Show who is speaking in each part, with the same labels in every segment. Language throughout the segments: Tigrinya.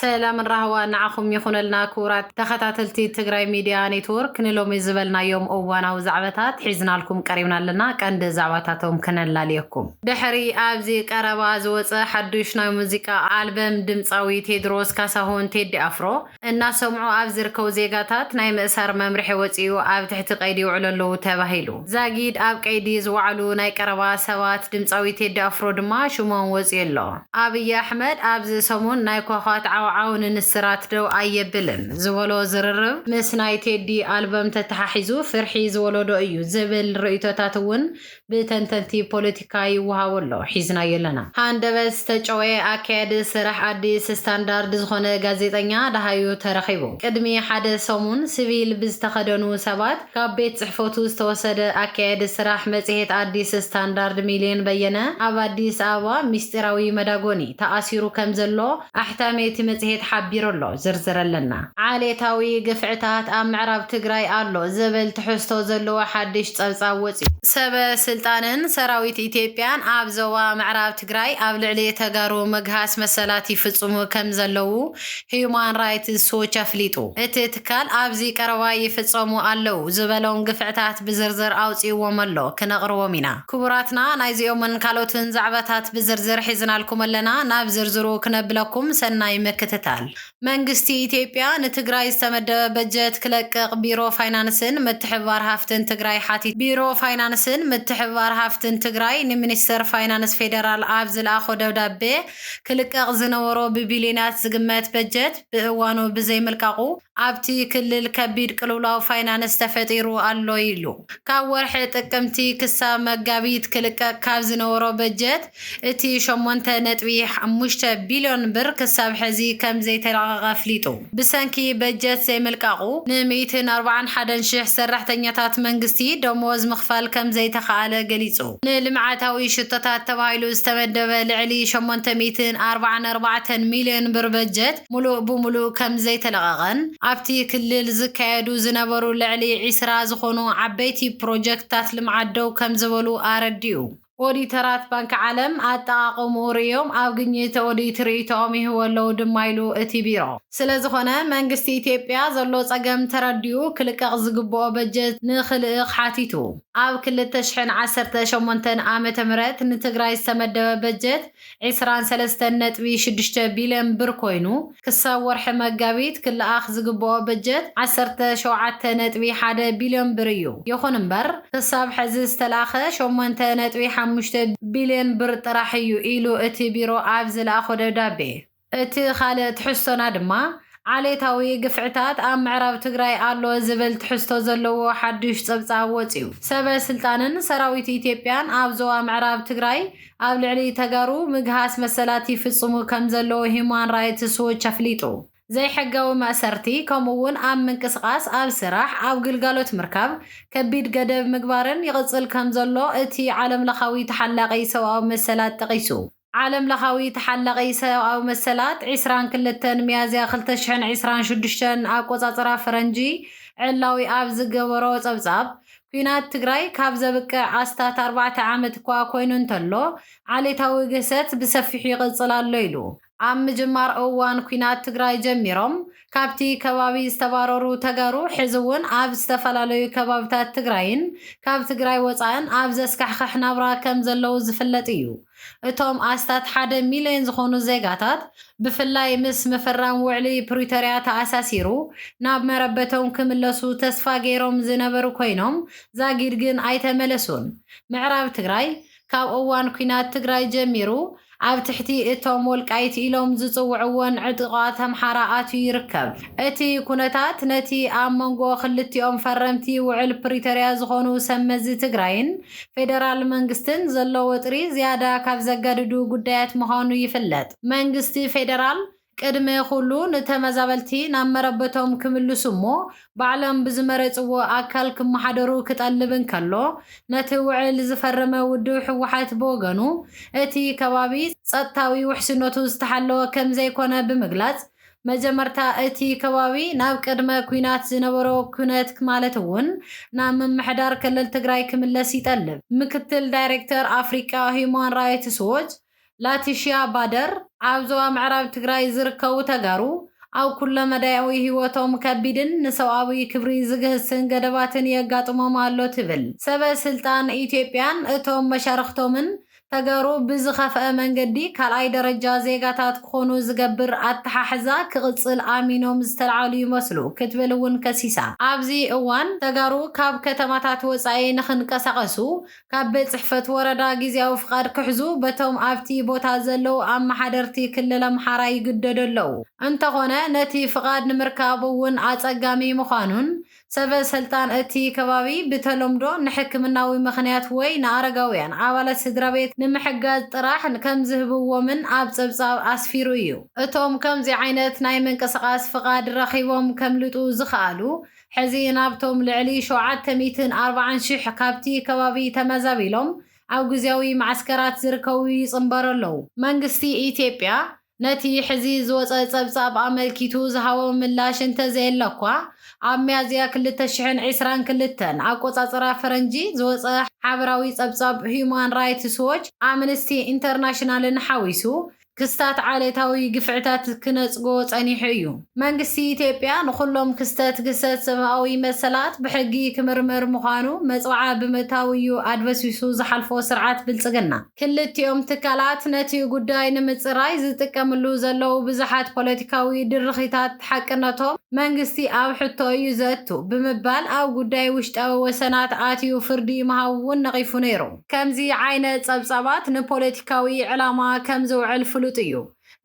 Speaker 1: ሰላምን ራህዋን ንዓኹም ይኹነልና ክቡራት ተኸታተልቲ ትግራይ ሚድያ ኔትዎርክ ንሎሚ ዝበልናዮም እዋናዊ ዛዕበታት ሒዝናልኩም ቀሪብና ኣለና ቀንዲ ዛዕባታቶም ክነላልየኩም ድሕሪ ኣብዚ ቀረባ ዝወፀ ሓዱሽ ናይ ሙዚቃ ኣልበም ድምፃዊ ቴድሮስ ካሳሁን፣ ቴዲ ኣፍሮ፣ እናሰምዑ ኣብ ዝርከቡ ዜጋታት ናይ ምእሳር መምርሒ ወፂኡ ኣብ ትሕቲ ቀይዲ ይውዕሉ ኣለዉ ተባሂሉ። ዛጊድ ኣብ ቀይዲ ዝወዓሉ ናይ ቀረባ ሰባት ድምጻዊ ቴዲ ኣፍሮ ድማ ሽሞም ወጺኡ ኣሎ። ኣብይ ኣሕመድ ኣብዚ ሰሙን ናይ ኳኳት ዓውዓው ንንስራት ደው ኣየብልን ዝበሎ ዝርርብ ምስ ናይ ቴዲ ኣልበም ተተሓሒዙ ፍርሒ ዝወለዶ እዩ ዝብል ርእይቶታት እውን ብተንተንቲ ፖለቲካ ይወሃቦ ኣሎ። ሒዝናዮ ኣለና። ሃንደበት ዝተጨወየ ኣካያዲ ስራሕ ኣዲስ ስታንዳርድ ዝኾነ ጋዜጠኛ ደሃዩ ተረኺቡ። ቅድሚ ሓደ ሰሙን ስቪል ብዝተኸደኑ ሰባት፣ ካብ ቤት ፅሕፈቱ ዝተወሰደ ኣካያዲ ስራሕ መፅሄት ኣዲስ ስታንዳርድ ሚሊዮን በየነ ኣብ ኣዲስ ኣበባ ሚስጢራዊ መዳጎኒ ተኣሲሩ ከምዘሎ ኣሕታሚ እቲ መፅሄት ሓቢሩ ኣሎ። ዝርዝር ኣለና። ዓሌታዊ ግፍዕታት ኣብ ምዕራብ ትግራይ ኣሎ ዝብል ትሕዝቶ ዘለዎ ሓድሽ ፀብፃብ ወፂኡ። ሰበ ስልጣንን ሰራዊት ኢትዮጵያን ኣብ ዞባ ምዕራብ ትግራይ ኣብ ልዕሊ ተጋሩ ምግሃስ መሰላት ይፍፅሙ ከምዘለዉ ህዩማን ራይትስ ዎች ኣፍሊጡ። እቲ ትካል ኣብዚ ቀረባ ይፍጸሙ ኣለዉ ዝበሎም ግፍዕታት ብዝርዝር ኣውጺእዎም ኣሎ፣ ክነቕርቦም ኢና። ክቡራትና ናይዚኦምን ካልኦትን ዛዕባታት ብዝርዝር ሒዝናልኩም ኣለና፣ ናብ ዝርዝሩ ክነብለኩም ሰናይ ምክትታል። መንግስቲ ኢትዮጵያ ንትግራይ ዝተመደበ በጀት ክለቅቕ ቢሮ ፋይናንስን ምትሕብባር ሃፍትን ትግራይ ሓቲቱ። ቢሮ ፋይናንስን ምትሕብባር ሃፍትን ትግራይ ንሚኒስተር ፋይናንስ ፌደራል ኣብ ዝልኣኾ ደብዳቤ፣ ክልቀቕ ዝነበሮ ብቢልዮናት ዝግመት በጀት ብእዋኑ ብዘይምልቃቑ ኣብቲ ክልል ከቢድ ቅልውላው ፋይናንስ ተፈጢሩ ኣሎ ኢሉ። ካብ ወርሒ ጥቅምቲ ክሳብ መጋቢት ክልቀቕ ካብ ዝነበሮ በጀት እቲ ሸሞንተ ነጥቢ ሓሙሽተ ቢልዮን ብር ክሳብ ሕዚ ከምዘይተለቐቐ ኣፍሊጡ። ብሰንኪ በጀት ዘይምልቃቑ ን ሚእትን ኣርባዓን ሓደን ሽሕ ሰራሕተኛታት መንግስቲ ደሞዝ ምኽፋል ከምዘይተኽኣለ ገሊፁ። ንልምዓታዊ ሽቶታት ተባሂሉ ዝተመደበ ልዕሊ ሸሞንተ ሚእትን ኣርባዓን ኣርባዕተን ሚልዮን ብር በጀት ሙሉእ ብሙሉእ ከምዘይተለቐቐን ኣብቲ ክልል ዝካየዱ ዝነበሩ ልዕሊ ዒስራ ዝኾኑ ዓበይቲ ፕሮጀክትታት ልምዓት ደው ከምዝበሉ ኣረዲኡ። ኦዲተራት ባንኪ ዓለም ኣጠቓቕምኡ ርእዮም ኣብ ግኝት ኦዲት ርኢቶኦም ይህቡ ኣለዉ ድማ ኢሉ እቲ ቢሮ። ስለዝኾነ መንግስቲ ኢትዮጵያ ዘሎ ፀገም ተረዲኡ ክልቀቕ ዝግበኦ በጀት ንክልእኽ ሓቲቱ። ኣብ ክልተ ሽሕን ዓሰርተ ሸሞንተን ዓመተ ምህረት ንትግራይ ዝተመደበ በጀት ዕስራን ሰለስተን ነጥቢ ሽዱሽተ ቢልዮን ብር ኮይኑ፣ ክሳብ ወርሒ መጋቢት ክለኣኽ ዝግበኦ በጀት ዓሰርተ ሸውዓተ ነጥቢ ሓደ ቢልዮን ብር እዩ። ይኹን እምበር ክሳብ ሕዚ ዝተልኣኸ ሸሞንተ ነጥቢ ሓሙሽተ ቢልዮን ብር ጥራሕ እዩ ኢሉ እቲ ቢሮ ኣብ ዝለኣኾ ደብዳቤ። እቲ ኻልእ ትሕዝቶና ድማ ዓሌታዊ ግፍዕታት ኣብ ምዕራብ ትግራይ ኣሎ ዝብል ትሕዝቶ ዘለዎ ሓዱሽ ፀብፃብ ወፂኡ። ሰበ ስልጣንን ሰራዊት ኢትዮጵያን ኣብ ዞባ ምዕራብ ትግራይ ኣብ ልዕሊ ተጋሩ ምግሃስ መሰላት ይፍፅሙ ከም ዘለዉ ሂዩማን ራይትስ ዎች ኣፍሊጡ። ዘይሕጋዊ ማእሰርቲ ከምኡ እውን ኣብ ምንቅስቓስ፣ ኣብ ስራሕ፣ ኣብ ግልጋሎት ምርካብ ከቢድ ገደብ ምግባርን ይቕፅል ከም ዘሎ እቲ ዓለም ለኻዊ ተሓላቒ ሰብኣዊ መሰላት ጠቒሱ። ዓለም ለኻዊ ተሓላቒ ሰብኣዊ መሰላት ዕስራን ክልተን ሚያዝያ ክልተ ሽሕን ዕስራን ሽዱሽተን ኣቆፃፅራ ፈረንጂ ዕላዊ ኣብ ዝገበሮ ፀብፃብ ኲናት ትግራይ ካብ ዘብቅዕ ኣስታት ኣርባዕተ ዓመት እኳ ኮይኑ እንተሎ ዓሌታዊ ግህሰት ብሰፊሑ ይቕፅል ኣሎ ኢሉ። ኣብ ምጅማር እዋን ኲናት ትግራይ ጀሚሮም ካብቲ ከባቢ ዝተባረሩ ተጋሩ ሕዚ እውን ኣብ ዝተፈላለዩ ከባብታት ትግራይን ካብ ትግራይ ወፃእን ኣብ ዘስካሕኽሕ ናብራ ከም ዘለዉ ዝፍለጥ እዩ። እቶም ኣስታት ሓደ ሚልዮን ዝኾኑ ዜጋታት ብፍላይ ምስ ምፍራም ውዕሊ ፕሪቶርያ ተኣሳሲሩ ናብ መረበቶም ክምለሱ ተስፋ ገይሮም ዝነበሩ ኮይኖም ዛጊድ ግን ኣይተመለሱን። ምዕራብ ትግራይ ካብ እዋን ኲናት ትግራይ ጀሚሩ ኣብ ትሕቲ እቶም ወልቃይት ኢሎም ዝፅውዕዎን ዕጡቓት ኣምሓራ ኣትዩ ይርከብ። እቲ ኩነታት ነቲ ኣብ መንጎ ክልቲኦም ፈረምቲ ውዕል ፕሪቶርያ ዝኾኑ ሰብ መዚ ትግራይን ፌደራል መንግስትን ዘሎ ወጥሪ ዝያዳ ካብ ዘገድዱ ጉዳያት ምዃኑ ይፍለጥ። መንግስቲ ፌደራል ቅድሚ ኩሉ ንተመዛበልቲ ናብ መረበቶም ክምልሱ እሞ ባዕሎም ብዝመረፅዎ ኣካል ክመሓደሩ ክጠልብ እንከሎ ነቲ ውዕል ዝፈረመ ውድብ ህወሓት ብወገኑ እቲ ከባቢ ፀጥታዊ ውሕስነቱ ዝተሓለወ ከምዘይኮነ ብምግላፅ መጀመርታ እቲ ከባቢ ናብ ቅድመ ኲናት ዝነበሮ ኩነት ማለት እውን ናብ ምምሕዳር ክልል ትግራይ ክምለስ ይጠልብ። ምክትል ዳይሬክተር ኣፍሪቃ ሂዩማን ራይትስ ዎች ላቲሽያ ባደር ኣብ ዞባ ምዕራብ ትግራይ ዝርከቡ ተጋሩ ኣብ ኩለ መዳያዊ ህይወቶም ከቢድን ንሰብኣዊ ክብሪ ዝግህስን ገደባትን የጋጥሞም ኣሎ ትብል። ሰበ ስልጣን ኢትዮጵያን እቶም መሻርኽቶምን ተጋሩ ብዝኸፍኣ መንገዲ ካልኣይ ደረጃ ዜጋታት ክኾኑ ዝገብር ኣተሓሕዛ ክቕፅል ኣሚኖም ዝተልዓሉ ይመስሉ ክትብል እውን ከሲሳ። ኣብዚ እዋን ተጋሩ ካብ ከተማታት ወፃኢ ንክንቀሳቐሱ ካብ ቤት ፅሕፈት ወረዳ ጊዚያዊ ፍቓድ ክሕዙ በቶም ኣብቲ ቦታ ዘለዉ ኣመሓደርቲ ክልል ኣምሓራ ይግደዱ ኣለዉ። እንተኾነ ነቲ ፍቓድ ንምርካብ እውን ኣፀጋሚ ምዃኑን ሰበ ሰልጣን እቲ ከባቢ ብተለምዶ ንሕክምናዊ ምኽንያት ወይ ንኣረጋውያን ኣባላት ስድራቤት ንምሕጋዝ ጥራሕ ከም ዝህብዎምን ኣብ ጸብጻብ ኣስፊሩ እዩ። እቶም ከምዚ ዓይነት ናይ ምንቅስቓስ ፍቓድ ረኺቦም ከምልጡ ዝኸኣሉ ሕዚ ናብቶም ልዕሊ ሸውዓተ ሚእትን ኣርባዓን ሽሕ ካብቲ ከባቢ ተመዛቢሎም ኣብ ግዝያዊ መዓስከራት ዝርከቡ ይጽንበሩ ኣለዉ። መንግስቲ ኢትዮጵያ ነቲ ሕዚ ዝወጸ ጸብጻብ ኣመልኪቱ ዝሃቦ ምላሽ እንተዘየለ'ኳ፣ ኣብ ሚያዝያ ክልተ ሽሕን ዕስራን ክልተን፣ ኣቆጻጽራ ፈረንጂ፣ ዝወጸ ሓበራዊ ጸብጻብ ህዩማን ራይትስ ዎች፣ ኣምንስቲ ኢንተርናሽናልን ሓዊሱ፣ ክስታት ዓሌታዊ ግፍዕታት ክነጽጎ ጸኒሑ እዩ። መንግስቲ ኢትዮጵያ፣ ንኹሎም ክስተት ግህሰት ሰብኣዊ መሰላት ብሕጊ ክምርምር ምዃኑ መጽብዓ ብምእታው እዩ ኣድበስቢሱ ዝሓልፎ ስርዓት ብልጽግና። ክልቲኦም ትካላት ነቲ ጉዳይ ንምጽራይ ዝጥቀምሉ ዘለዉ ብዙሓት ፖለቲካዊ ድርኺታት ሓቅነቶም መንግስቲ ኣብ ሕቶ እዩ ዘእቱ ብምባል ኣብ ጉዳይ ውሽጣዊ ወሰናት ኣትዩ ፍርዲ ምሃቡ'ውን ነቒፉ ነይሩ። ከምዚ ዓይነት ጸብጻባት ንፖለቲካዊ ዕላማ ከም ዝውዕል ፍሉጥ እዩ።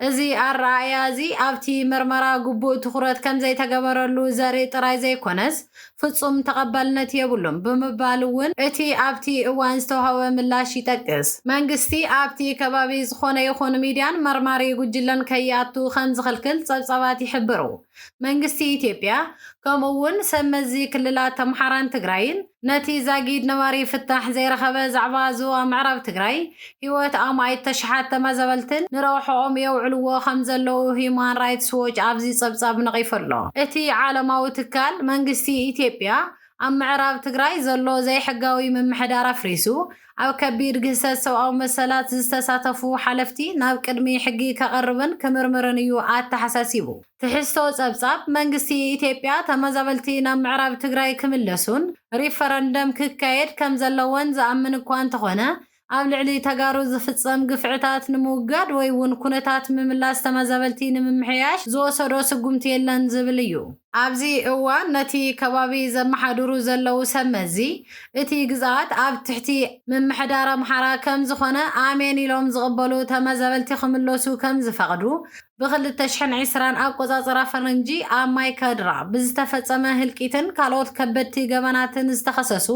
Speaker 1: እዚ ኣረኣእያ እዚ ኣብቲ ምርመራ ግቡእ ትኹረት ከም ዘይተገበረሉ ዘርኢ ጥራይ ዘይኰነስ፣ ፍጹም ተቐባልነት የብሉን ብምባል እውን እቲ ኣብቲ እዋን ዝተውሃበ ምላሽ ይጠቅስ። መንግስቲ ኣብቲ ከባቢ ዝዀነ ይኹን ሚድያን መርማሪ ጉጅለን ከይኣቱ ከም ዝኽልክል ጸብጻባት ይሕብሩ። መንግስቲ ኢትዮጵያ ከምኡ እውን ሰብ መዚ ክልላት ኣምሓራን ትግራይን ነቲ ዛጊድ ነባሪ ፍታሕ ዘይረኸበ ዛዕባ ዞባ ምዕራብ ትግራይ ህይወት ኣማኢት ተሽሓት ተመዛበልትን ንረብሐኦም የውዕልዎ ከምዘለዉ ህዩማን ራይትስ ዎች ኣብዚ ፀብፃብ ነቒፉ ኣሎ። እቲ ዓለማዊ ትካል መንግስቲ ኢትዮጵያ ኣብ ምዕራብ ትግራይ ዘሎ ዘይሕጋዊ ምምሕዳር ኣፍሪሱ ኣብ ከቢድ ግህሰት ሰብኣዊ መሰላት ዝተሳተፉ ሓለፍቲ ናብ ቅድሚ ሕጊ ከቐርብን ክምርምርን እዩ ኣተሓሳሲቡ። ትሕዝቶ ጸብጻብ፣ መንግስቲ ኢትዮጵያ ተመዛበልቲ ናብ ምዕራብ ትግራይ ክምለሱን ሪፈረንደም ክካየድ ከምዘለዎን ዝኣምን እኳ እንተኾነ ኣብ ልዕሊ ተጋሩ ዝፍጸም ግፍዕታት ንምውጋድ ወይ'ውን ኩነታት ምምላስ ተመዛበልቲ ንምምሕያሽ ዝወሰዶ ስጉምቲ የለን ዝብል እዩ። ኣብዚ እዋን ነቲ ከባቢ ዘመሓድሩ ዘለዉ ሰብ መዚ፣ እቲ ግዝኣት ኣብ ትሕቲ ምምሕዳር ኣምሓራ ከም ዝኾነ ኣሜን ኢሎም ዝቕበሉ ተመዛበልቲ ክምለሱ ከም ዝፈቕዱ ብኽልተ ሽሕን ዕስራን ኣቆጻጽራ ፈረንጂ ኣብ ማይ ካድራ ብዝተፈጸመ ህልቂትን ካልኦት ከበድቲ ገበናትን ዝተኸሰሱ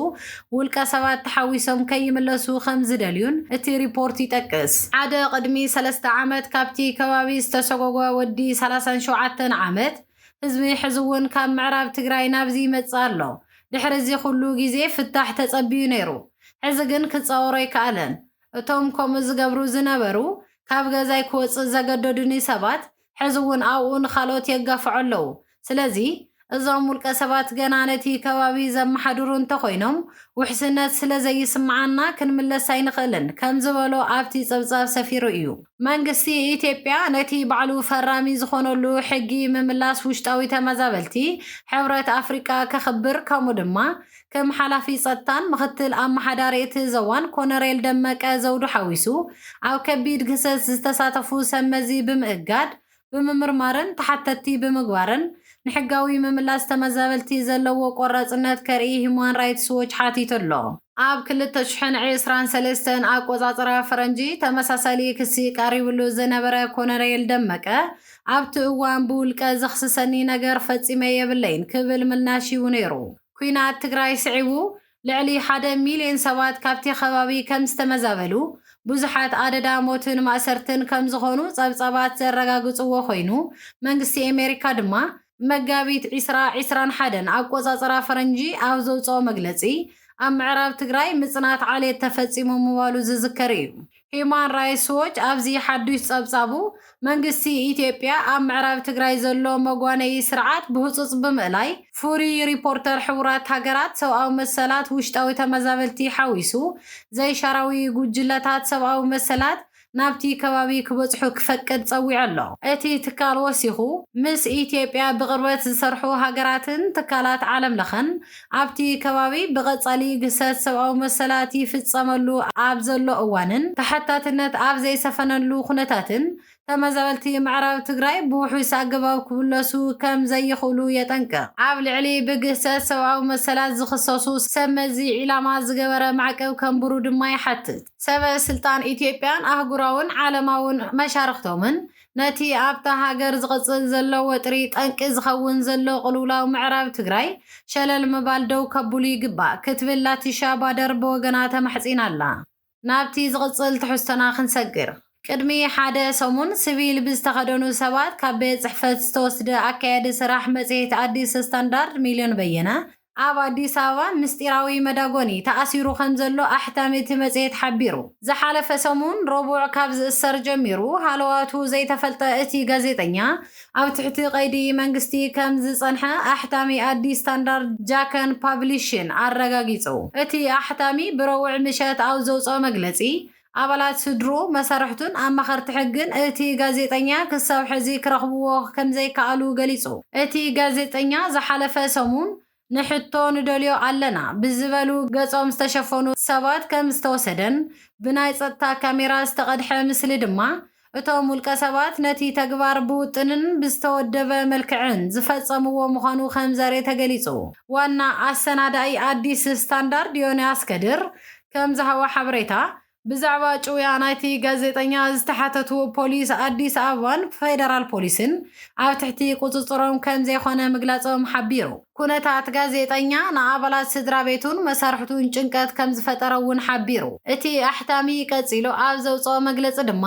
Speaker 1: ውልቀ ሰባት ተሓዊሶም ከይምለሱ ከም ዝደልዩን እቲ ሪፖርት ይጠቅስ። ሓደ ቅድሚ ሰለስተ ዓመት ካብቲ ከባቢ ዝተሰጎጎ ወዲ ሰላሳን ሸውዓተን ዓመት፣ ህዝቢ ሕዚ እውን ካብ ምዕራብ ትግራይ ናብዚ ይመፅእ ኣሎ። ድሕሪ እዚ ኩሉ ግዜ ፍታሕ ተፀቢዩ ነይሩ። ሕዚ ግን ክፃወሮ ኣይከኣለን። እቶም ከምኡ ዝገብሩ ዝነበሩ፣ ካብ ገዛይ ክወፅእ ዘገደዱኒ ሰባት ሕዚ እውን ኣብኡ ንካልኦት የጋፍዑ ኣለው። ስለዚ እዞም ውልቀ ሰባት ገና ነቲ ከባቢ ዘመሓድሩ እንተኾይኖም ውሕስነት ስለዘይስመዓና ክንምለስ ኣይንኽእልን ከም ዝበሎ ኣብቲ ፀብፃብ ሰፊሩ እዩ። መንግስቲ ኢትዮጵያ ነቲ ባዕሉ ፈራሚ ዝኾነሉ ሕጊ ምምላስ ውሽጣዊ ተመዛበልቲ ሕብረት ኣፍሪቃ ከኽብር ከምኡ ድማ ከም ሓላፊ ጸጥታን ምኽትል ኣመሓዳሪ እቲ ዘዋን ኮነሬል ደመቀ ዘውዱ ሓዊሱ ኣብ ከቢድ ግህሰት ዝተሳተፉ ሰብ መዚ ብምእጋድ ብምምርማርን ተሓተትቲ ብምግባርን ንሕጋዊ ምምላስ ተመዛበልቲ ዘለዎ ቆራፅነት ከርኢ ሂዩማን ራይትስ ዎች ሓቲቱ ኣሎ። ኣብ ክልተ ሽሕን ዕስራን ሰለስተን ኣቆፃፅራ ፈረንጂ ተመሳሳሊ ክሲ ቀሪብሉ ዝነበረ ኮሎኔል ደመቀ ኣብቲ እዋን ብውልቀ ዘኽስሰኒ ነገር ፈፂመ የብለይን ክብል ምላሽ ሂቡ ነይሩ። ኲናት ትግራይ ስዒቡ ልዕሊ ሓደ ሚልዮን ሰባት ካብቲ ከባቢ ከም ዝተመዛበሉ፣ ብዙሓት ኣደዳ ሞትን ማእሰርትን ከም ዝኾኑ ጸብጻባት ዘረጋግጽዎ ኮይኑ፣ መንግስቲ ኣሜሪካ ድማ፣ መጋቢት ዕስራ ዕስራን ሓደን ኣቆጻጽራ ፈረንጂ ኣብ ዘውጽኦ መግለጺ፣ ኣብ ምዕራብ ትግራይ ምጽናት ዓሌት ተፈጺሙ ምባሉ ዝዝከር እዩ። ሂዩማን ራይትስ ዎች ኣብዚ ሓዱሽ ፀብፃቡ፣ መንግስቲ ኢትዮጵያ ኣብ ምዕራብ ትግራይ ዘሎ መጓነዪ ስርዓት ብህፁፅ ብምእላይ ፍሉይ ሪፖርተር ሕቡራት ሃገራት ሰብኣዊ መሰላት ውሽጣዊ ተመዛበልቲ ሓዊሱ ዘይሻራዊ ጉጅለታት ሰብኣዊ መሰላት ናብቲ ከባቢ ክበፅሑ ክፈቅድ ፀዊዑ ኣሎ። እቲ ትካል ወሲኹ፣ ምስ ኢትዮጵያ ብቕርበት ዝሰርሑ ሃገራትን ትካላት ዓለም ለኸን ኣብቲ ከባቢ ብቐጻሊ ግህሰት ሰብኣዊ መሰላት ይፍጸመሉ ኣብ ዘሎ እዋንን ተሓታትነት ኣብ ዘይሰፈነሉ ኩነታትን ተመዛበልቲ ምዕራብ ትግራይ ብውሑስ ኣገባብ ክምለሱ ከም ዘይኽእሉ የጠንቅቕ። ኣብ ልዕሊ ብግህሰት ሰብኣዊ መሰላት ዝኽሰሱ ሰብ መዚ ዒላማ ዝገበረ ማዕቀብ ከንብሩ ድማ ይሓትት። ሰበ ስልጣን ኢትዮጵያን ኣህጉራውን ዓለማውን መሻርኽቶምን ነቲ ኣብታ ሃገር ዝቕጽል ዘሎ ወጥሪ ጠንቂ ዝኸውን ዘሎ ቅልውላው ምዕራብ ትግራይ ሸለል ምባል ደው ከብሉ ይግባእ ክትብል ላቲሻ ባደር ብወገና ተማሕጺና ኣላ። ናብቲ ዝቕጽል ትሕዝቶና ክንሰግር። ቅድሚ ሓደ ሰሙን ስቪል ብዝተኸደኑ ሰባት ካብ ቤት ጽሕፈት ዝተወስደ ኣካያዲ ስራሕ መጽሔት ኣዲስ ስታንዳርድ ሚልዮን በየነ ኣብ ኣዲስ ኣበባ ምስጢራዊ መዳጎኒ ተኣሲሩ ከምዘሎ ኣሕታሚ እቲ መጽሔት ሓቢሩ። ዝሓለፈ ሰሙን ረቡዕ ካብ ዝእሰር ጀሚሩ ሃለዋቱ ዘይተፈልጠ እቲ ጋዜጠኛ፣ ኣብ ትሕቲ ቀይዲ መንግስቲ ከም ዝጸንሐ ኣሕታሚ ኣዲስ ስታንዳርድ ጃከን ፓብሊሽን ኣረጋጊጹ። እቲ ኣሕታሚ ብረቡዕ ምሸት ኣብ ዘውጽኦ መግለጺ፣ ኣባላት ስድርኡ፣ መሳርሕቱን ኣማኸርቲ ሕግን እቲ ጋዜጠኛ ክሳብ ሕዚ ክረኽብዎ ከምዘይከኣሉ ገሊጹ። እቲ ጋዜጠኛ ዝሓለፈ ሰሙን ንሕቶ ንደልዮ ኣለና ብዝበሉ ገጾም ዝተሸፈኑ ሰባት ከም ዝተወሰደን ብናይ ጸጥታ ካሜራ ዝተቐድሐ ምስሊ ድማ እቶም ውልቀሰባት ነቲ ተግባር ብውጥንን ብዝተወደበ መልክዕን ዝፈጸምዎ ምዃኑ ከምዘሬ ተገሊጹ። ዋና ኣሰናዳኢ ኣዲስ ስታንዳርድ ዮንያስ ከድር ከምዝሃቦ ሓበሬታ፣ ብዛዕባ ጭውያ ናይቲ ጋዜጠኛ ዝተሓተቱ ፖሊስ ኣዲስ ኣበባን ፌደራል ፖሊስን ኣብ ትሕቲ ቁጽጽሮም ከምዘይኮነ ምግላጾም ሓቢሩ። ኩነታት ጋዜጠኛ ንኣባላት ስድራቤቱን መሳርሕቱን ጭንቀት ከም ዝፈጠረ'ውን ሓቢሩ። እቲ ኣሕታሚ ቀጺሉ ኣብ ዘውጽኦ መግለጺ ድማ፣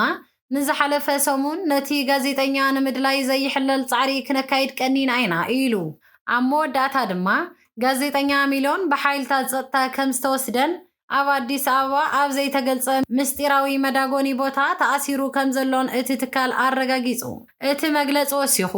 Speaker 1: ንዝሓለፈ ሰሙን ነቲ ጋዜጠኛ ንምድላይ ዘይሕለል ጻዕሪ ክነካይድ ቀኒና ኢና ኢሉ። ኣብ መወዳእታ ድማ፣ ጋዜጠኛ ሚሎን ብሓይልታት ጸጥታ ከም ዝተወስደን ኣብ ኣዲስ ኣበባ ኣብ ዘይተገልጸ ምስጢራዊ መዳጎኒ ቦታ ተኣሲሩ ከምዘሎን እቲ ትካል ኣረጋጊጹ። እቲ መግለጺ ወሲኹ፣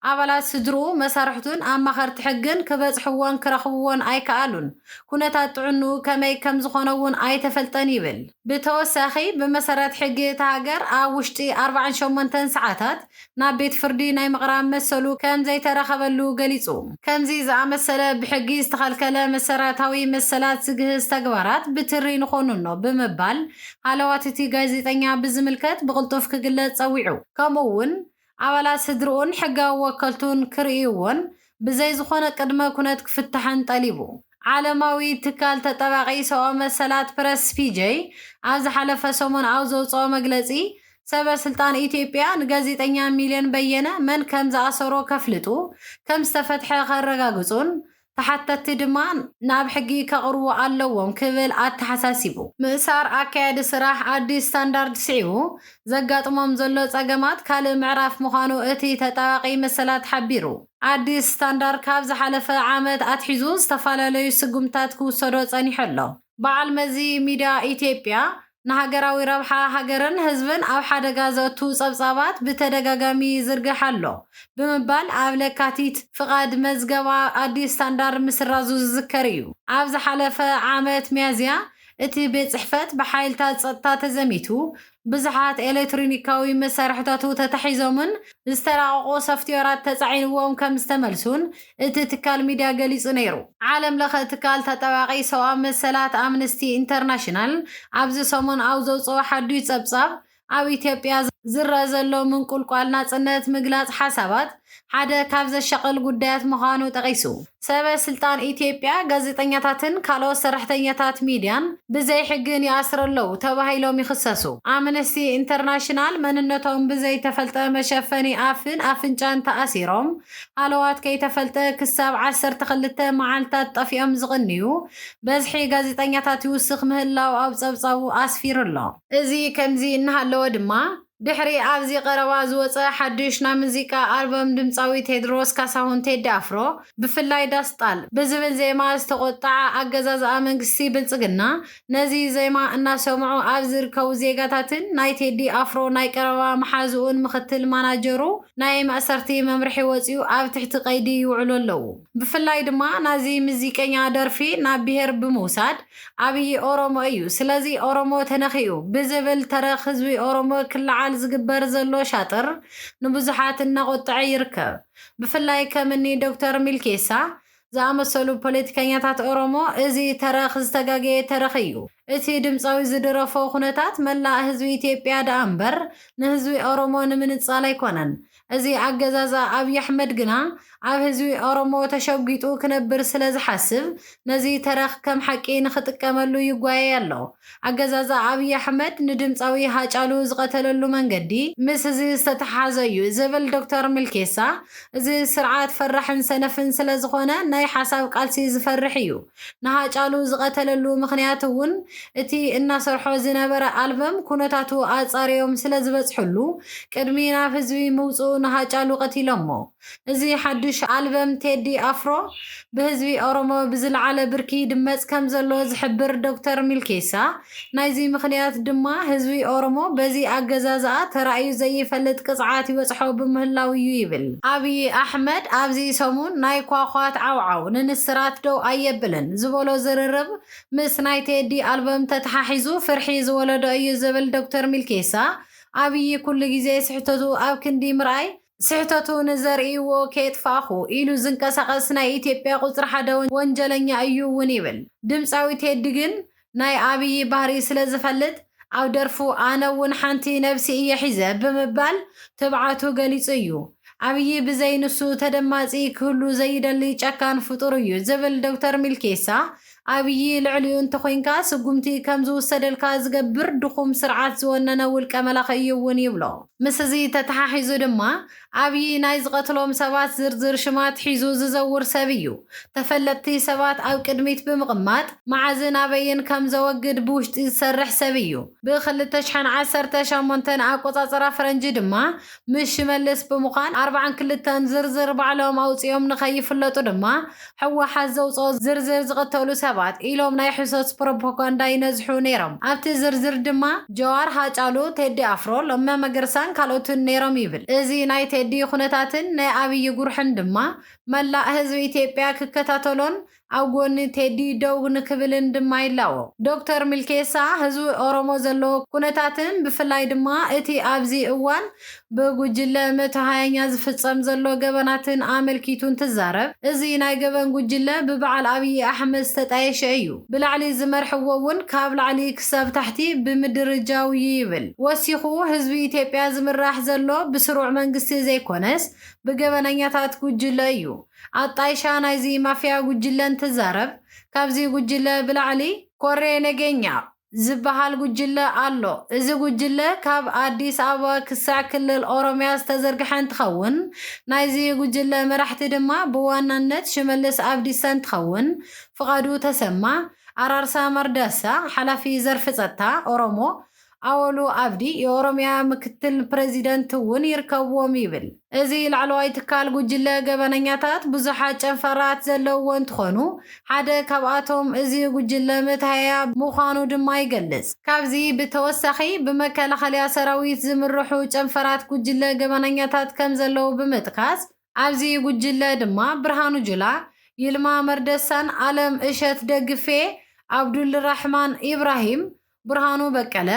Speaker 1: ኣባላት ስድርኡ፣ መሳርሕቱን ኣማኸርቲ ሕግን ክበጽሕዎን ክረኽብዎን ኣይከኣሉን፣ ኩነታት ጥዕንኡ ከመይ ከምዝኾነ'ውን ኣይተፈልጠን ይብል። ብተወሳኺ፣ ብመሰረት ሕጊ እታ ሃገር ኣብ ውሽጢ ኣርባዓን ሸሞንተን ሰዓታት ናብ ቤት ፍርዲ ናይ ምቕራብ መሰሉ ከም ዘይተረኸበሉ ገሊጹ። ከምዚ ዝኣመሰለ ብሕጊ ዝተኸልከለ መሰረታዊ መሰላት ዝግህስ ተግባራት ብትሪ ንኾንኖ ብምባል ሃለዋት እቲ ጋዜጠኛ ብዝምልከት ብቕልጡፍ ክግለጽ ጸዊዑ። ከምኡ'ውን ኣባላት ስድርኡን ሕጋዊ ወከልቱን ክርእይዎን ብዘይ ዝኾነ ቅድመ ኩነት ክፍታሕን ጠሊቡ። ዓለማዊ ትካል ተጣባቒ ሰብኣዊ መሰላት ፕረስ ፒጀይ ኣብ ዝሓለፈ ሰሙን ኣብ ዘውጽኦ መግለጺ፣ ሰበ ስልጣን ኢትዮጵያ ንጋዜጠኛ ሚልዮን በየነ መን ከም ዝኣሰሮ ከፍልጡ፣ ከም ዝተፈትሐ ከረጋግጹን ተሓተትቲ ድማ ናብ ሕጊ ከቕርቡ ኣለዎም ክብል ኣተሓሳሲቡ። ምእሳር ኣካያዲ ስራሕ ኣዲስ ስታንዳርድ ስዒቡ፣ ዘጋጥሞም ዘሎ ጸገማት ካልእ ምዕራፍ ምዃኑ እቲ ተጣባቒ መሰላት ሓቢሩ። ኣዲስ ስታንዳር ካብ ዝሓለፈ ዓመት ኣትሒዙ ዝተፈላለዩ ስጉምትታት ክውሰዶ ጸኒሑ ኣሎ። በዓል መዚ ሚድያ ኢትዮጵያ፣ ንሃገራዊ ረብሓ ሃገርን ህዝብን ኣብ ሓደጋ ዘእቱ ጸብጻባት ብተደጋጋሚ ይዝርግሕ ኣሎ ብምባል ኣብ ለካቲት ፍቓድ መዝገባ ኣዲስ ስታንዳር ምስራዙ ዝዝከር እዩ። ኣብ ዝሓለፈ ዓመት ሚያዝያ፣ እቲ ቤት ጽሕፈት ብሓይልታት ጸጥታ ተዘሚቱ፣ ብዙሓት ኤሌክትሪኒካዊ መሳርሕታቱ ተታሒዞምን ዝተራቐቑ ሶፍትዌራት ተጻዒንዎም ከም ዝተመልሱን እቲ ትካል ሚድያ ገሊጹ ነይሩ። ዓለምለኸ ትካል ተጣባቒ ሰውኣዊ መሰላት ኣምንስቲ ኢንተርናሽናል ኣብዚ ሰሙን ኣብ ዘውጽኦ ሓዱሽ ጸብጻብ፣ ኣብ ኢትዮጵያ ዝረኣ ዘሎ ምንቁልቋል ናጽነት ምግላጽ ሓሳባት ሓደ ካብ ዘሻቕል ጉዳያት ምዃኑ ጠቒሱ፣ ሰበ ስልጣን ኢትዮጵያ ጋዜጠኛታትን ካልኦት ሰራሕተኛታት ሚድያን ብዘይሕግን ይኣስሩ ኣለዉ ተባሂሎም ይኽሰሱ። ኣምነስቲ ኢንተርናሽናል መንነቶም ብዘይተፈልጠ መሸፈኒ ኣፍን ኣፍንጫን ተኣሲሮም ሃለዋት ከይተፈልጠ ክሳብ ዓሰርተ ክልተ መዓልታት ጠፊኦም ዝቕንዩ በዝሒ ጋዜጠኛታት ይውስኽ ምህላዉ ኣብ ጸብጻቡ ኣስፊሩ ኣሎ። እዚ ከምዚ እናሃለወ ድማ፣ ድሕሪ ኣብዚ ቀረባ ዝወጸ ሓድሽ ናይ ሙዚቃ ኣልበም ድምጻዊ ቴድሮስ ካሳሁን፣ ቴዲ ኣፍሮ፣ ብፍላይ ዳስ ጣል ብዝብል ዜማ ዝተቖጥዓ ኣገዛዝኣ መንግስቲ ብልጽግና፣ ነዚ ዜማ እናሰምዑ ኣብ ዝርከቡ ዜጋታትን ናይ ቴዲ ኣፍሮ ናይ ቀረባ መሓዝኡን ምኽትል ማናጀሩ ናይ ማእሰርቲ መምርሒ ወጺኡ ኣብ ትሕቲ ቀይዲ ይውዕሉ ኣለዉ። ብፍላይ ድማ ናዚ ምዚቀኛ ደርፊ ናብ ብሄር ብምውሳድ ኣብዪ ኦሮሞ እዩ ስለዚ ኦሮሞ ተነኺኡ ብዝብል ተረኽ ህዝቢ ኦሮሞ ክለዓል ዝግበር ዘሎ ሻጥር ንብዙሓት እናቖጠዐ ይርከብ። ብፍላይ ከም እኒ ዶክተር ሚልኬሳ ዝኣመሰሉ ፖለቲከኛታት ኦሮሞ እዚ ተረኽ ዝተጋገየ ተረኽ እዩ፣ እቲ ድምፃዊ ዝድረፎ ኩነታት መላእ ህዝቢ ኢትዮጵያ ደኣ እምበር ንህዝቢ ኦሮሞ ንምንፃል ኣይኮነን፣ እዚ ኣገዛዝኣ ኣብይ ኣሕመድ ግና ኣብ ህዝቢ ኦሮሞ ተሸጒጡ ክነብር ስለ ዝሓስብ ነዚ ተረኽ ከም ሓቂ ንኽጥቀመሉ ይጓየይ ኣሎ። ኣገዛዝኣ ኣብይ ኣሕመድ ንድምጻዊ ሃጫሉ ዝቐተለሉ መንገዲ። ምስ እዚ ዝተተሓሓዘ እዩ ዝብል ዶክተር ሚልኬሳ፣ እዚ ስርዓት ፈራሕን ሰነፍን ስለ ዝኾነ ናይ ሓሳብ ቃልሲ ዝፈርሕ እዩ። ንሃጫሉ ዝቐተለሉ ምኽንያት እውን እቲ እናሰርሖ ዝነበረ ኣልበም ኩነታቱ ኣፃርዮም ስለዝበፅሕሉ ቅድሚ ናብ ህዝቢ ምውፅኡ ንሃጫሉ ቀቲሎሞ። እዚ ሓዱሽ ኣልበም ቴዲ ኣፍሮ ብህዝቢ ኦሮሞ ብዝለዓለ ብርኪ ይድመፅ ከምዘሎ ዝሕብር ዶክተር ሚልኬሳ ናይዚ ምኽንያት ድማ ህዝቢ ኦሮሞ በዚ ኣገዛዝኣ ተራእዩ ዘይፈልጥ ቅፅዓት ይበፅሖ ብምህላው እዩ ይብል። ኣብዪ ኣሕመድ ኣብዚ ሰሙን ናይ ኳኳት ዓውዓው ንንስራት ደው ኣየብልን ዝበሎ ዝርርብ ምስ ናይ ቴዲ ኣልበም ተተሓሒዙ ፍርሒ ዝወለዶ እዩ ዝብል ዶክተር ሚልኬሳ፣ ኣብዪ ኩሉ ግዜ ስሕተቱ ኣብ ክንዲ ምርኣይ ስሕተቱ ንዘርእይዎ ከየጥፋእኹ ኢሉ ዝንቀሳቐስ ናይ ኢትዮጵያ ቁፅሪ ሓደ ወንጀለኛ እዩ እውን ይብል። ድምፃዊ ቴዲ ግን ናይ ኣብዪ ባህሪ ስለ ዝፈልጥ ኣብ ደርፉ ኣነ እውን ሓንቲ ነብሲ እየ ሒዘ ብምባል ትብዓቱ ገሊፁ እዩ። ኣብዪ ብዘይ ንሱ ተደማፂ ክህሉ ዘይደሊ ጨካን ፍጡር እዩ ዝብል ዶክተር ሚልኬሳ ኣብዪ ልዕሊኡ እንተኾይንካ ስጉምቲ ከም ዝውሰደልካ ዝገብር ድኹም ስርዓት ዝወነነ ውልቀ መላኺ እዩ እውን ይብሎ። ምስዚ ተተሓሒዙ ድማ ኣብዪ ናይ ዝቐትሎም ሰባት ዝርዝር ሽማት ሒዙ ዝዘውር ሰብ እዩ። ተፈለጥቲ ሰባት ኣብ ቅድሚት ብምቕማጥ መዓዝን ኣበይን ከም ዘወግድ ብውሽጢ ዝሰርሕ ሰብ እዩ። ብ ክልተ ሽሕን ዓሰርተ ሸሞንተን ኣቆፃፅራ ፈረንጂ ድማ ምስ ሽመልስ ብምዃን ኣርብዓን ክልተን ዝርዝር ባዕሎም ኣውፂኦም ንከይፍለጡ ድማ ሕወሓት ዘውጽኦ ዝርዝር ዝቕተሉ ሰባት ኢሎም ናይ ሕሶት ፕሮፖጋንዳ ይነዝሑ ነይሮም። ኣብቲ ዝርዝር ድማ ጀዋር፣ ሃጫሉ፣ ቴዲ ኣፍሮ፣ ለመ መገርሳን ካልኦትን ነይሮም ይብል። እዚ ናይ ቴዲ ኩነታትን ናይ ኣብዪ ጉርሕን ድማ መላእ ህዝቢ ኢትዮጵያ ክከታተሎን ኣብ ጎኒ ቴዲ ደው ንክብልን ድማ ይላቦ። ዶክተር ሚልኬሳ፣ ህዝቢ ኦሮሞ ዘለዎ ኩነታትን ብፍላይ ድማ እቲ ኣብዚ እዋን ብጉጅለ እምእቲ ሃያኛ ዝፍጸም ዘሎ ገበናትን ኣመልኪቱ እንትዛረብ፣ እዚ ናይ ገበን ጉጅለ ብበዓል ኣብዪ ኣሕመድ ዝተጣየሸ እዩ። ብላዕሊ ዝመርሕዎ እውን ካብ ላዕሊ ክሳብ ታሕቲ ብምድርጃው እዩ ይብል። ወሲኹ፣ ህዝቢ ኢትዮጵያ ዝምራሕ ዘሎ ብስሩዕ መንግስቲ ዘይኮነስ ብገበነኛታት ጉጅለ እዩ። ኣጣይሻ ናይዚ ማፍያ ጉጅለ እንትዛረብ፣ ካብዚ ጉጅለ ብላዕሊ፣ ኮሬ ነገኛ፣ ዝበሃል ጉጅለ ኣሎ። እዚ ጉጅለ ካብ ኣዲስ ኣበባ ክሳዕ ክልል ኦሮሚያ ዝተዘርግሐ እንትኸውን፣ ናይዚ ጉጅለ መራሕቲ ድማ ብዋናነት ሽመልስ ኣብዲሳ እንትኸውን፣ ፍቓዱ ተሰማ፣ ኣራርሳ መርዳሳ፣ ሓላፊ ዘርፊ ፀጥታ፣ ኦሮሞ፣ ኣወሉ ኣብዲ፣ የኦሮሚያ ምክትል ፕረዚደንት፣ እውን ይርከብዎም ይብል። እዚ ላዕለዋይ ትካል ጉጅለ ገበነኛታት ብዙሓት ጨንፈራት ዘለውዎ እንትኾኑ ሓደ ካብኣቶም እዚ ጉጅለ መትሃያ ምዃኑ ድማ ይገልፅ። ካብዚ ብተወሳኺ ብመከላኸሊያ ሰራዊት ዝምርሑ ጨንፈራት ጉጅለ ገበነኛታት ከምዘለዉ ብምጥቃስ ኣብዚ ጉጅለ ድማ ብርሃኑ ጁላ፣ ይልማ መርደሳን ኣለም እሸት ደግፌ፣ ኣብዱልራሕማን ኢብራሂም፣ ብርሃኑ በቀለ፣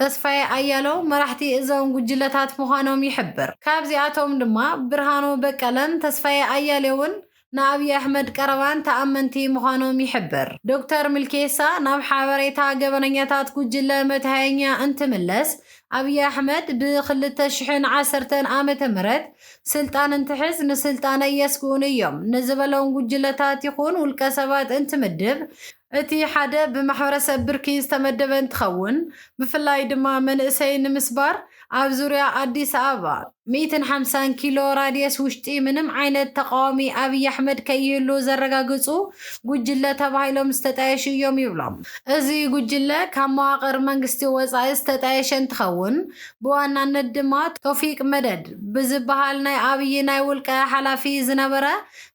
Speaker 1: ተስፋዬ ኣያለው መራሕቲ እዞም ጉጅለታት ምዃኖም ይሕብር። ካብዚኣቶም ድማ ብርሃኑ በቀለን ተስፋዬ ኣያሌውን ንኣብዪ ኣሕመድ ቀረባን ተኣመንቲ ምዃኖም ይሕብር። ዶክተር ሚልኬሳ ናብ ሓበሬታ ገበነኛታት ጉጅለ መትሃየኛ እንትምለስ፣ ኣብዪ ኣሕመድ ብ ክልተ ሽሕን ዓሰርተን ዓመተ ምህረት ስልጣን እንትሕዝ ንስልጣነይ የስግኡኒ እዮም ንዝበሎም ጉጅለታት ይኹን ውልቀሰባት እንትምድብ እቲ ሓደ ብማሕበረሰብ ብርኪ ዝተመደበ እንትኸውን ብፍላይ ድማ መንእሰይ ንምስባር ኣብ ዙርያ ኣዲስ ኣበባ ሚእትን ሓምሳን ኪሎ ራድየስ ውሽጢ ምንም ዓይነት ተቓዋሚ ኣብይ ኣሕመድ ከይህሉ ዘረጋግፁ ጉጅለ ተባሂሎም ዝተጣየሹ እዮም ይብሎም። እዚ ጉጅለ ካብ መዋቕር መንግስቲ ወፃኢ ዝተጣየሸ እንትኸውን ብዋናነት ድማ ቶፊቅ መደድ ብዝበሃል ናይ ኣብይ ናይ ውልቀ ሓላፊ ዝነበረ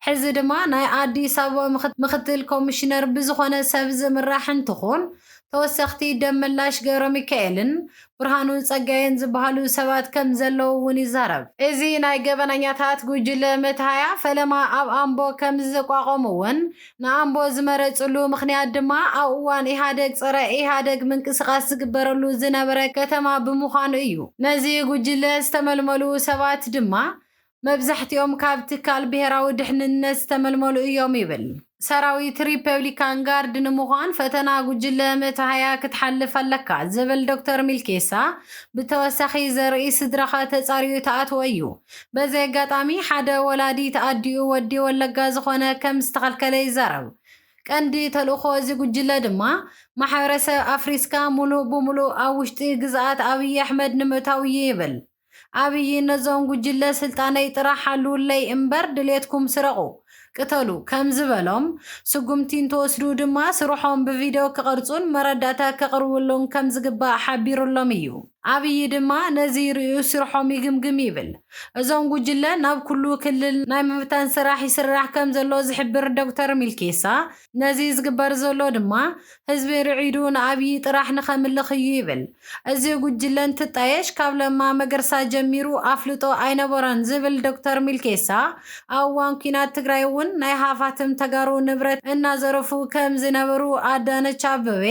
Speaker 1: ሕዚ ድማ ናይ ኣዲስ ኣበባ ምክትል ኮሚሽነር ብዝኾነ ሰብ ዝምራሕ እንትኾን ተወሰኽቲ ደመላሽ ገብረሚካኤልን ብርሃኑ ፀጋዬን ዝብሃሉ ሰባት ከም ዘለዉ እውን ይዛረብ። እዚ ናይ ገበነኛታት ጉጅለ መትሃያ ፈለማ ኣብ ኣምቦ ከም ዝተቋቖም እውን ንኣምቦ ዝመረፅሉ ምኽንያት ድማ ኣብ እዋን ኢህኣደግ ፀረ ኢህኣደግ ምንቅስቓስ ዝግበረሉ ዝነበረ ከተማ ብምዃኑ እዩ። ነዚ ጉጅለ ዝተመልመሉ ሰባት ድማ መብዛሕቲኦም ካብ ትካል ብሄራዊ ድሕንነት ዝተመልመሉ እዮም ይብል። ሰራዊት ሪፐብሊካን ጋርድ ንምዃን ፈተና ጉጅለ መተሃያ ክትሓልፍ ኣለካ ዝብል ዶክተር ሚልኬሳ፣ ብተወሳኺ ዘርኢ ስድራኻ ተጻርዩ ትኣትዎ እዩ። በዚ ኣጋጣሚ ሓደ ወላዲት ኣዲኡ ወዲ ወለጋ ዝኾነ ከም ዝተኸልከለ ይዛረብ። ቀንዲ ተልእኾ እዚ ጉጅለ ድማ ማሕበረሰብ ኣፍሪስካ ሙሉእ ብሙሉእ ኣብ ውሽጢ ግዝኣት ኣብይ ኣሕመድ ንምእታው እዩ ይብል። ኣብይ ነዞም ጉጅለ ስልጣነይ ጥራሕ ሓልውለይ እምበር ድሌትኩም ስረቑ፣ ቅተሉ ከም ዝበሎም፣ ስጉምቲ እንትወስዱ ድማ ስርሖም ብቪድዮ ክቐርፁን መረዳእታ ከቕርብሉን ከም ዝግባእ ሓቢሩሎም እዩ። ኣብይ ድማ ነዚ ሪኡ ስርሖም ይግምግም ይብል። እዞም ጉጅለ ናብ ኩሉ ክልል ናይ ምብታን ስራሕ ይስራሕ ከም ዘሎ ዝሕብር ዶክተር ሚልኬሳ፣ ነዚ ዝግበር ዘሎ ድማ ህዝቢ ርዒዱ ንኣብዪ ጥራሕ ንኸምልኽ እዩ ይብል። እዚ ጉጅለ እንትጣየሽ ካብ ለማ መገርሳ ጀሚሩ ኣፍልጦ ኣይነበሮን ዝብል ዶክተር ሚልኬሳ፣ ኣብ እዋን ኲናት ትግራይ እውን ናይ ሃፋትም ተጋሩ ንብረት እናዘረፉ ከምዝነበሩ ኣዳነች ኣበቤ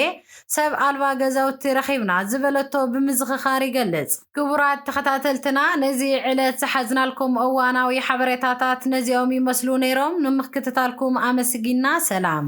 Speaker 1: ሰብ ኣልባ ገዛውቲ ረኺብና ዝበለቶ ብምዝኽኻር ይገልፅ። ክቡራት ተኸታተልትና ነዚ ዕለት ዝሓዝናልኩም እዋናዊ ሓበሬታታት ነዚኦም ይመስሉ ነይሮም። ንምክትታልኩም ኣመስጊንና። ሰላም።